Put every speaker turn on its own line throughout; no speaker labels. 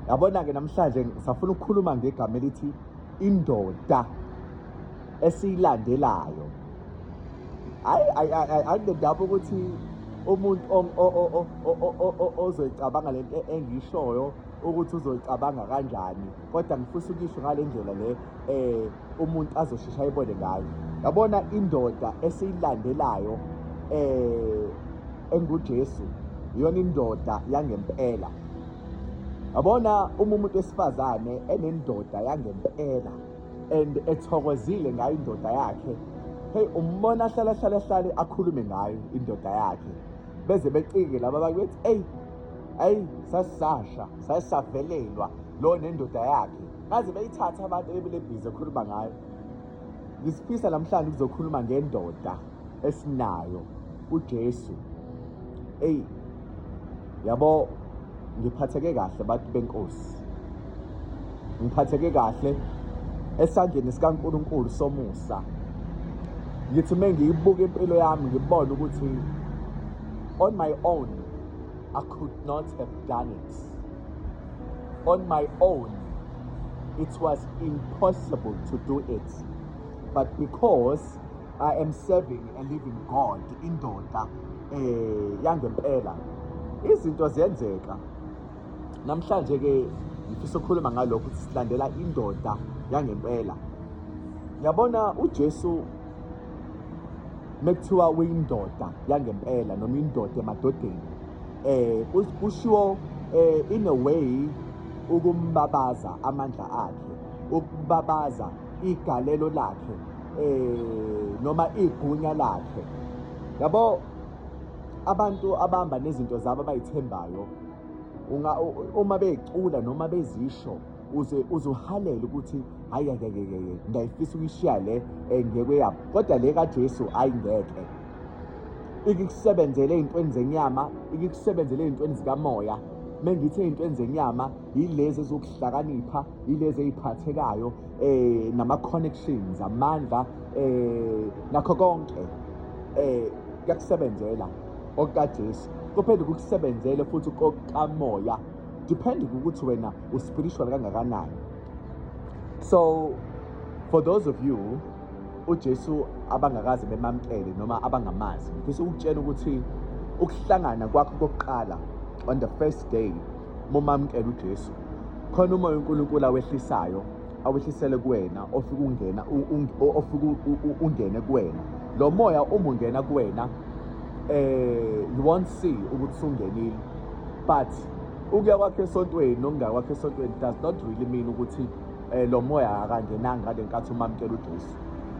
Yabona-ke namhlanje safuna ukukhuluma ngegama elithi indoda esiyilandelayo. Hayi anginendaba ukuthi umuntu ozoyicabanga lento engishoyo ukuthi uzoyicabanga kanjani kodwa ngifisa ukuyisho ngale ndlela le um umuntu azoshesha ayibone ngayo yabona indoda esiyilandelayo eh enguJesu iyona indoda yangempela yabona uma umuntu esifazane enendoda yangempela and ethokozile ngayo indoda yakhe hey umbona hlala hlala hlale akhulume ngayo indoda yakhe beze becike laba bakithi hey hey sasasha sasavelelwa lo nendoda yakhe baze beyithathe abantu ebebelebhizi ekhuluma ngayo ngisifisa namhlanje kuzokhuluma ngendoda esinayo uJesu eyi yabo ngiphatheke kahle bantu benkosi ngiphatheke kahle esandleni sikaNkuluNkulu somusa ngithi uma ngiyibuka impilo yami ngibone ukuthi on my own I could not have done it on my own it was impossible to do it but because I am serving a living God indoda eh yangempela izinto ziyenzeka namhlanje ke ngifisa ukukhuluma ngalokho ukuthi silandela indoda yangempela yabona uJesu mekuthiwa uyindoda yangempela noma indoda emadodeni eh kushiwo eh in a way ukumbabaza amandla akhe ukubabaza igalelo lakhe eh noma igunya lakhe yabo abantu abahamba nezinto zabo abayithembayo unga uma becula noma bezisho uze uzuhalela ukuthi hayi ngeke ngeke ngiyayifisa ukuyishiya le eh, ngeke yabo kodwa le kaJesu ayingeke ikusebenzele ey'ntweni zenyama ikusebenzele ey'ntweni zikamoya uma ngithi ey'ntweni zenyama yilezi ezokuhlakanipha yilezi ey'phathekayo um nama-connections amandla um nakho konke um kuyakusebenzela okukajesu kuphinde kukusebenzele futhi kokamoya depending ukuthi wena uspiritual kangakanani so for those of you uJesu abangakaze bemamkele noma abangamazi ngifisa ukutshena ukuthi ukuhlangana kwakho kokuqala on the first day momamkela uJesu khona umoya uNkulunkulu awehlisayo awehlisele kuwena ofika ungena ofika ungene kuwena lo moya uma ungena kuwena eh you won't see ukuthi sungenile but ukuya kwakhe esontweni nokungakwakhe esontweni does not really mean ukuthi eh lo moya akangenanga ngale nkathi umamkela uJesu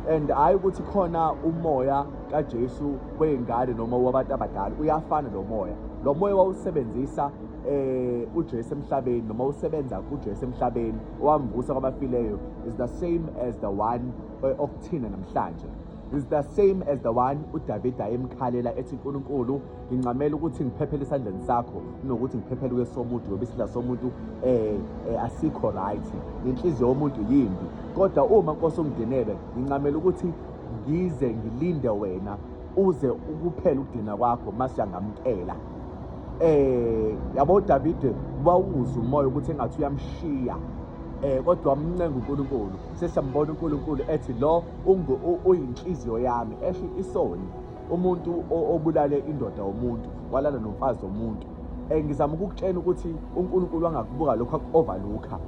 and hayi ukuthi khona umoya kaJesu weyingane noma wabantu abadala uyafana lo moya lo moya wawusebenzisa eh uJesu emhlabeni noma usebenza kuJesu emhlabeni owamvusa kwabafileyo is the same as the one eh, okuthina namhlanje is the same as the one uDavid ayemkhalela ethi uNkulunkulu ngincamela ukuthi ngiphephele esandleni sakho kunokuthi ngiphephele kwesomuntu ngoba isidla somuntu eh, eh asikho right nenhliziyo yomuntu yimbi kodwa uma nkosi ungidenele ngincamela ukuthi ngize ngilinde wena uze ukuphela ukudina kwakho masiyangamkela eh yabo David wawuza umoya ukuthi engathi uyamshiya eh kodwa wamncenga uNkulunkulu sesiyambona uNkulunkulu ethi lo uyinhliziyo yami esho isoni umuntu obulale indoda womuntu walala nomfazi womuntu um ngizama ukukutshena ukuthi unkulunkulu angakubuka lokhu aku-overlooka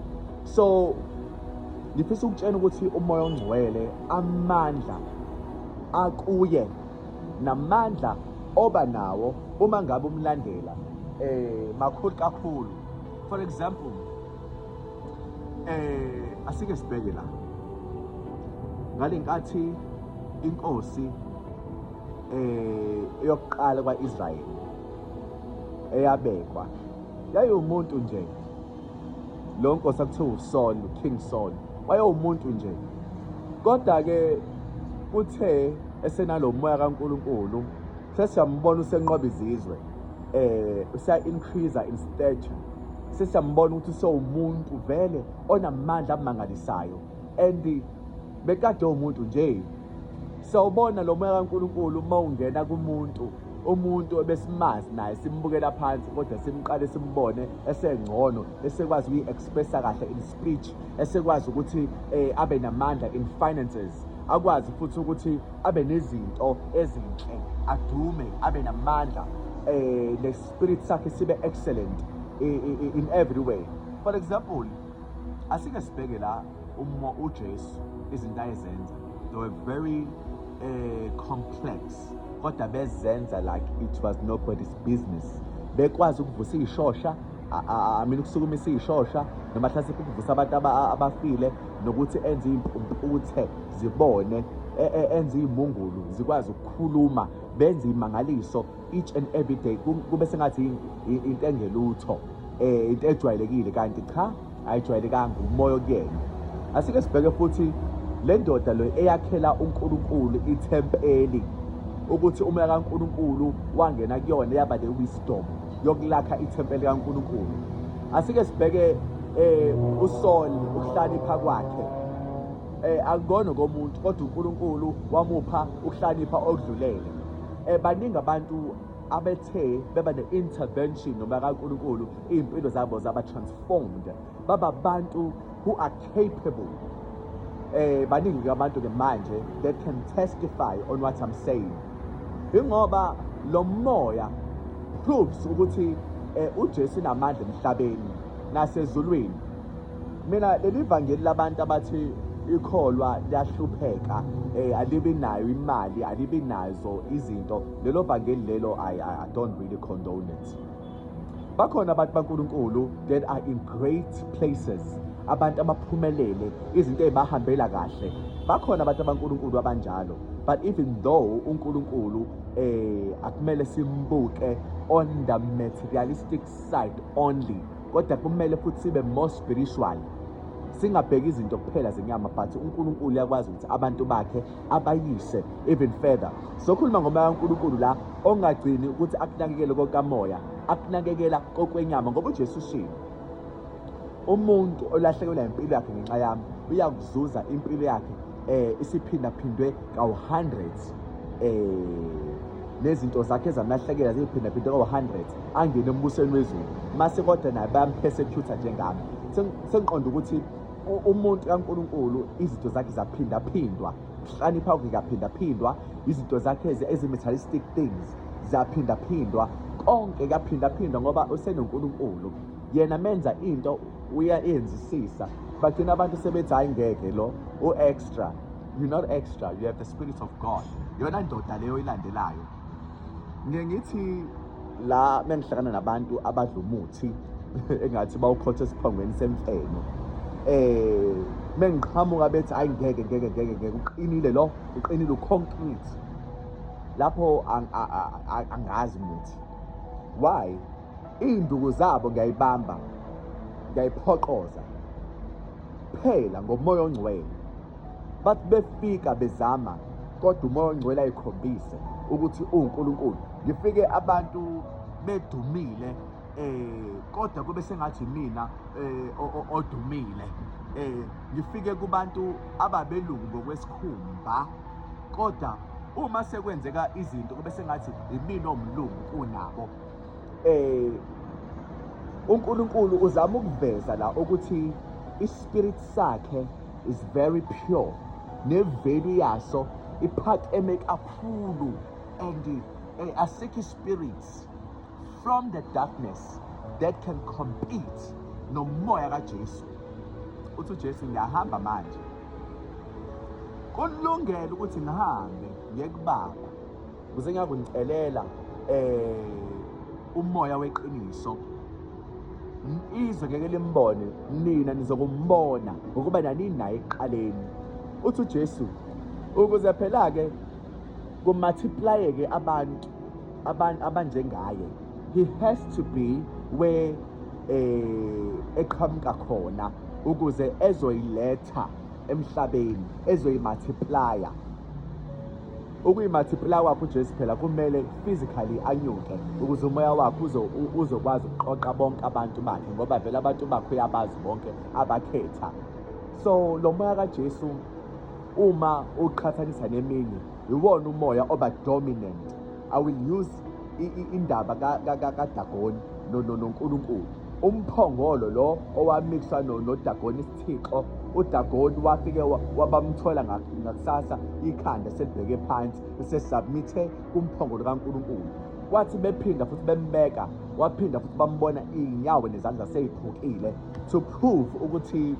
so ngifisa ukutshena ukuthi umoya ongcwele amandla akuye namandla oba nawo uma ngabe umlandela um makhulu kakhulu for example Eh asike sibheke la. Ngalenkathi inkosi eh eyokuqala kwaIsrael eyabekwa yayumuntu nje lo nkosi akuthiwa uSaul uKing Saul wayewumuntu nje kodwa ke uthe esenalomoya kaNkuluNkulu sesiyambona usenqoba izizwe eh usa increase in stature sesiyambona ukuthi sewumuntu vele onamandla amangalisayo and bekade umuntu nje sawubona lo moya kaNkuluNkulu uma ungena kumuntu umuntu ebesimazi naye simbukela phansi kodwa simqale simbone esengcono esekwazi ukuyi-expressa kahle in speech esekwazi ukuthi eh, abe namandla in finances akwazi futhi ukuthi abe nezinto ezinhle adume abe namandla eh spirit sakhe sibe excellent in every way for example asike sibheke la uma uJesu izinto ayezenza they were very uh, complex kodwa bezenza like it was nobody's business bekwazi ukuvusa ishosha I mean ukusukumisa ishosha noma hlasimpe ukuvusa abantu abafile nokuthi enze impumputhe zibone e, e, enze imungulu zikwazi ukukhuluma benze imangaliso each and every day kube sengathi into engelutho eh into ejwayelekile kanti cha ayijwayelekanga umoya okuyena asike sibheke futhi le ndoda lo eyakhela uNkulunkulu ithempeli ukuthi umoya kaNkulunkulu wangena kuyona yaba le wisdom yokulakha ithempeli kaNkulunkulu asike sibheke eh uSaul ukuhlanipha kwakhe eh akubona komuntu kodwa uNkulunkulu wamupha ukuhlanipha okudlulele Eh, baningi abantu abethe beba ne-intervention noma kaNkulunkulu iy'mpilo zabo zaba-transformed baba abantu who are capable eh baningi abantu ke manje that can testify on what I'm saying ingoba lo moya proves ukuthi eh, uJesu namandla emhlabeni nasezulwini mina leli vangeli labantu abathi ikholwa liyahlupheka eh alibi nayo imali alibi nazo izinto lelo vangeli lelo i i don't really condone it bakhona abantu baNkulunkulu that are in great places abantu abaphumelele izinto ezibahambela kahle bakhona abantu abankulunkulu abanjalo but even though uNkulunkulu eh akumele simbuke on the materialistic side only kodwa kumele futhi sibe more spiritual singabheki izinto kuphela zenyama but uNkulunkulu uyakwazi ukuthi abantu bakhe abayise even further sokhuluma ngomoya kaNkulunkulu la ongagcini ukuthi akunakekele kokamoya akunakekela kokwenyama ngoba uJesu ushilo umuntu olahlekelwa impilo yakhe ngenxa yami uyakuzuza impilo yakhe eh isiphindaphindwe kawu-hundreds eh nezinto zakhe zamlahlekela ziyiphindaphinde kawu-hundred angene embusweni wezulu mase kodwa naye bayamphesecutha njengami sengiqonda ukuthi umuntu kaNkuluNkulu izinto zakhe zaphindaphindwa kuhlanipha kuyaphindaphindwa izinto zakhe ezi-materialistic things zaphindaphindwa konke kuyaphindaphindwa ngoba usenoNkulunkulu yena menza into uyayenzisisa bagcina abantu sebethi hayi ngeke lo u-extra you're not extra you have the spirit of god yona ndoda leyo ilandelayo ngiye ngithi la mengihlangana nabantu abadla umuthi engathi bawukhotha esiphongweni semfeno eh mengiqhamuka bethi ayi ngeke ngeke ngeke ngeke uqinile lo uqinile uconcrete lapho angazi muthi why Iy'nduku zabo ngiyayibamba ngiyayiphoqoza phela ngomoya ongcwele bathi befika bezama kodwa umoya ongcwele ayikhombise ukuthi uwuNkulunkulu ngifike abantu bedumile eh kodwa kube sengathi mina eh odumile eh ngifike kubantu ababelungu ngokwesikhumba kodwa uma sekwenzeka izinto kube sengathi imina omlungu kunabo eh uNkulunkulu uzama ukuveza la ukuthi ispirit sakhe is very pure nevelu yaso iphakeme kakhulu and eh, asikho ispirits from the darkness that can compete nomoya kaJesu uthi uJesu ngiyahamba manje kulungele ukuthi ngihambe ngiyekubaba Kuze ngiyakuncelela eh umoya weqiniso izwe ngeke limbone nina nizokumbona ngokuba naninaye eqaleni uthi uJesu ukuze phela ke kumultiply ke abantu abantu abanjengaye he has to be where eh eqhamuka khona ukuze ezoyiletha emhlabeni ezoyimathiplaya ukuyimathiplaya kwakho uJesu phela kumele physically anyuke ukuze umoya wakho uzokwazi ukuqoqa bonke abantu bakhe ngoba vele abantu bakho uyabazi bonke abakhetha so lo moya kaJesu uma uqhathanisa neminye iwona umoya oba dominant i will use indaba kadagoni nonkulunkulu umphongolo lo owamixwa nodagoni Thixo, uDagoni wafike wabamthola ngakusasa ikhanda selibheke phansi esesubmithe kumphongolo kaNkulunkulu. Kwathi bephinda futhi bembeka, waphinda futhi bambona iy'nyawo nezandla sey'phukile to prove ukuthi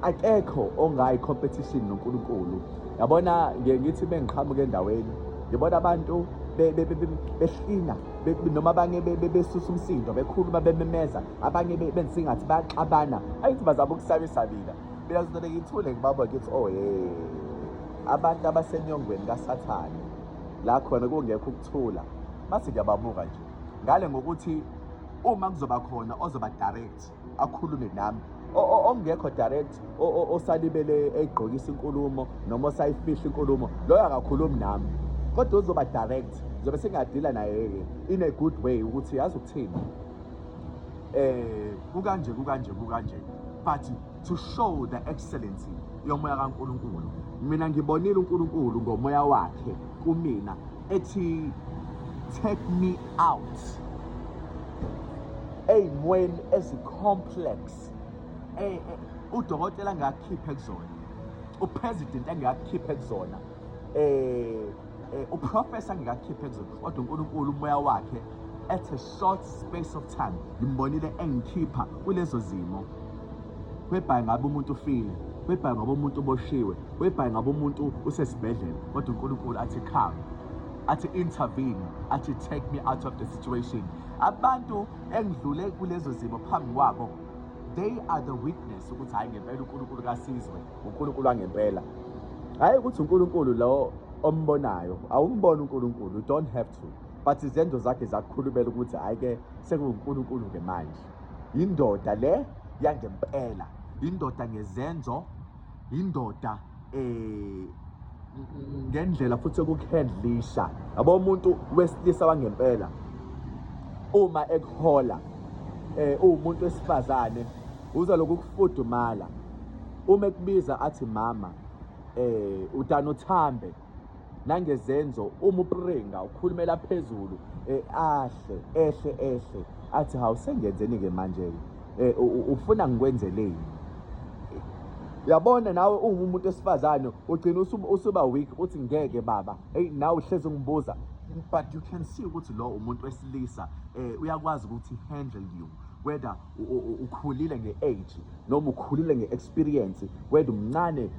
akekho ongayi competition noNkulunkulu. Yabona ngiye ngithi bengiqhamuka endaweni ngibona abantu behlina noma abanye besusa umsindo bekhuluma bememeza abanye benze ingathi bayaxabana ayithi bazama ukusabisabila mina ngizodele ngithule ngibaba ngithi oh ye abantu abasenyongweni kasathane la khona kungekho ukuthula bathi ngiyababuka nje ngale ngokuthi uma kuzoba khona ozoba direct akhulume nami ongekho direct osalibele egqokisa inkulumo noma osayifihla inkulumo loyo akakhulumi nami kodwa uzoba direct ngizobe sengiyadeala naye-ke in a good way ukuthi yazi ukuthini eh kukanje kukanje kukanje but to show the excellency yomoya kaNkuluNkulu mina ngibonile uNkuluNkulu ngomoya wakhe kumina ethi take me out ey'mweni ezicomplex e, e, udokotela angakhiphe kuzona upresident angakhiphe kuzona um Eh, uprofesa ngikakhiphe nje kodwa uNkulunkulu umoya wakhe at a short space of time ngimbonile engikhipha kulezo zimo webhayi ngabe umuntu ufile webhayi ngabe umuntu uboshiwe webhayi ngabe umuntu usesibhedlela kodwa uNkulunkulu athi come athi intervene athi take me out of the situation abantu engidlule kulezo zimo phambi kwabo they are the witness ukuthi hayi ngempela uNkulunkulu kasizwe uNkulunkulu wangempela hayi ukuthi uNkulunkulu lo ombonayo awumbona uNkulunkulu you don't have to but izenzo zakhe zakukhulumela ukuthi hayi ke sekuwuNkulunkulu ke manje indoda le yangempela indoda ngezenzo indoda eh ngendlela futhi okukuhandlisha yabo umuntu wesilisa wangempela uma ekuhola eh uwumuntu wesifazane uza lokufudumala Uma ekubiza athi mama eh udana uthambe nangezenzo uma upringa ukhulumela phezulu eh, ahle ehle ehle athi hawu sengenzeni ke manje ke eh, ufuna ngikwenzeleni yabona nawe ungumuntu esifazane ugcina usuba weak uthi ngeke baba hey nawe uhlezi ungibuza but you can see ukuthi lo umuntu wesilisa eh uyakwazi ukuthi handle you whether ukhulile nge-age noma ukhulile nge-experience wena umncane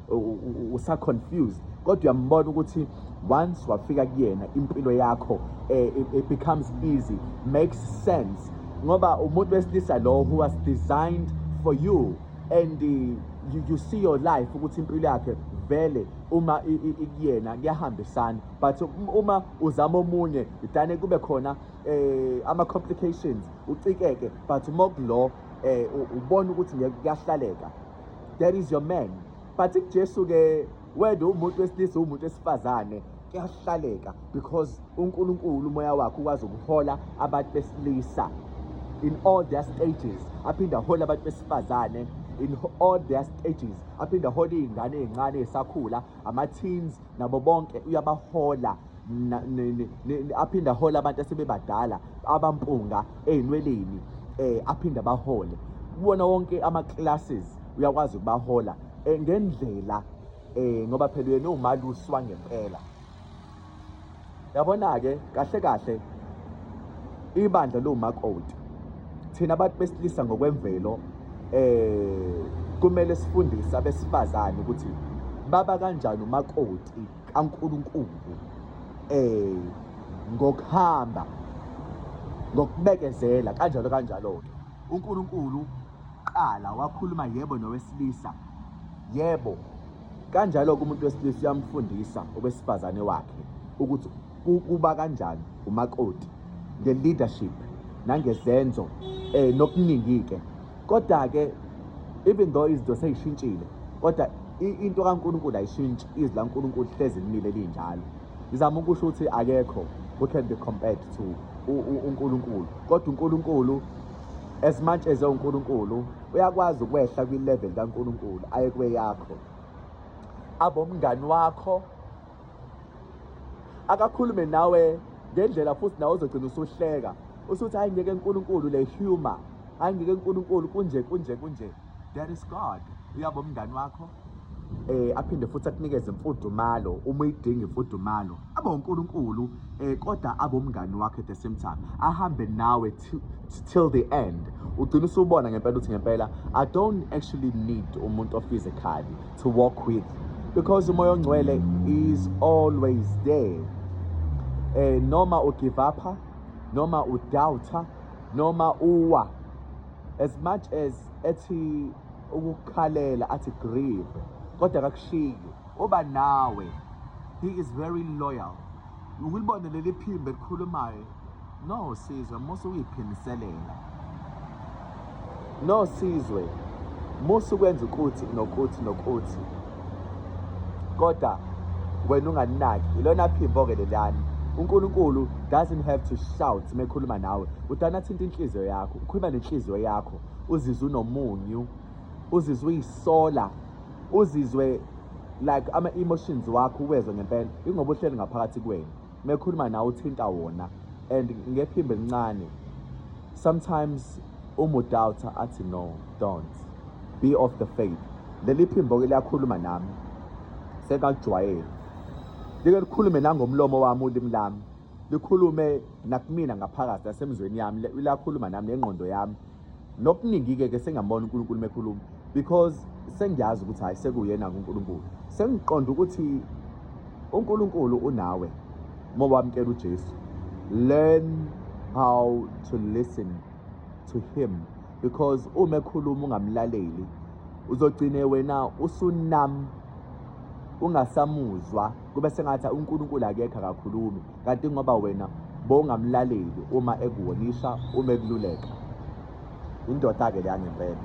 usa-confused kodwa uyambona ukuthi once wafika kuyena impilo yakho eh, it becomes easy makes sense ngoba umuntu wesilisa lo who was designed for you and you, you see your life ukuthi impilo yakhe vele uma ikuyena kuyahambisana but uma uzama omunye idane kube khona eh ama complications ucikeke but uma kulo eh ubona ukuthi ngeke kuyahlaleka that is your man but uJesu ke wena umuntu wesilisa umuntu wesifazane kuyahlaleka because uNkulunkulu umoya wakhe ukwazi ukuhola abantu besilisa in all their stages aphinda hola abantu besifazane in all their stages aphinda hola izingane ezincane esakhula ama teens nabo bonke uyabahola aphinde ahole abantu asebebadala abampunga ezinweleni eh aphinde abahole kuwona wonke ama classes uyakwazi ukubahola eh, ngendlela eh ngoba phela yena umaluswa ngempela Yabona-ke kahle kahle ibandla liwumakoti. Thina abantu besilisa ngokwemvelo eh kumele sifundise abesifazane ukuthi baba kanjani umakoti kaNkuluNkulu eh ngokuhamba ngokubekezela kanjalo kanjalo ke uNkulunkulu qala wakhuluma yebo nowesilisa yebo Kanjalo-ke umuntu wesilisa uyamfundisa owesifazane wakhe ukuthi kuba kanjani umakoti nge-leadership nangezenzo um nokuningi-ke kodwa-ke even though izinto seyishintshile kodwa into kaNkulunkulu ayishintshi izwi laNkulunkulu hlezi limile linjalo ngizama ukusho ukuthi akekho who can be compared to uNkulunkulu kodwa uNkulunkulu as much as ewuNkulunkulu uyakwazi ukwehla kwi-level kaNkulunkulu aye kweyakho abomngani wakho akakhulume nawe ngendlela futhi nawe uzogcina usuhleka usuthi hayi ngeke uNkulunkulu le humor hayi ngeke uNkulunkulu kunje kunje kunje there is God uyabo umngani wakho eh aphinde futhi akunikeze imfudumalo uma uyidinga imfudumalo abe uNkulunkulu eh kodwa abomngani wakhe at the same time ahambe nawe till the end ugcina usubona ngempela uthi ngempela i don't actually need umuntu ophysically to walk with because umoya ongcwele is always there eh noma u give up noma u doubter noma uwa as much as ethi ukukhalela athi grieve kodwa akakushiyi oba nawe he is very loyal ukulibona leli phimbo elikhulumayo no sizwe musa uyiphimiselela no sizwe musa ukwenza ukuthi nokuthi nokuthi kodwa wena unganinaki ilona phimbo-ke leliyani unkulunkulu doesn't have to shout mekhuluma nawe udana athinta inhliziyo yakho ukhuluma nenhliziyo yakho uzizwe unomunyu uzizwe uyisola uzizwe like ama-emotions wakho uwezwe ngempela ingoba uhleli ngaphakathi kwenu mekhuluma nawe uthinta wona and ngephimbo elincane sometimes umudawutha athi no don't be of the faith leli phimbo-ke liyakhuluma nami sekakujwayele like likhulume nangomlomo wami ulimi lami likhulume nakumina ngaphakathi nasemzweni yami lakhuluma nami nengqondo yami nokuningi-ke ke sengambona unkulunkulu mekhuluma because sengiyazi ukuthi hhayi sekuyena unkulunkulu sengiqonda ukuthi unkulunkulu unawe uma wamkela ujesu learn how to listen to him because uma ekhuluma ungamlaleli uzogcine wena usunam ungasamuzwa kube sengathi uNkulunkulu akekho akakhulumi kanti ngoba wena bongamlaleli uma ekuwonisa uma ekululeka indoda-ke leya ngempela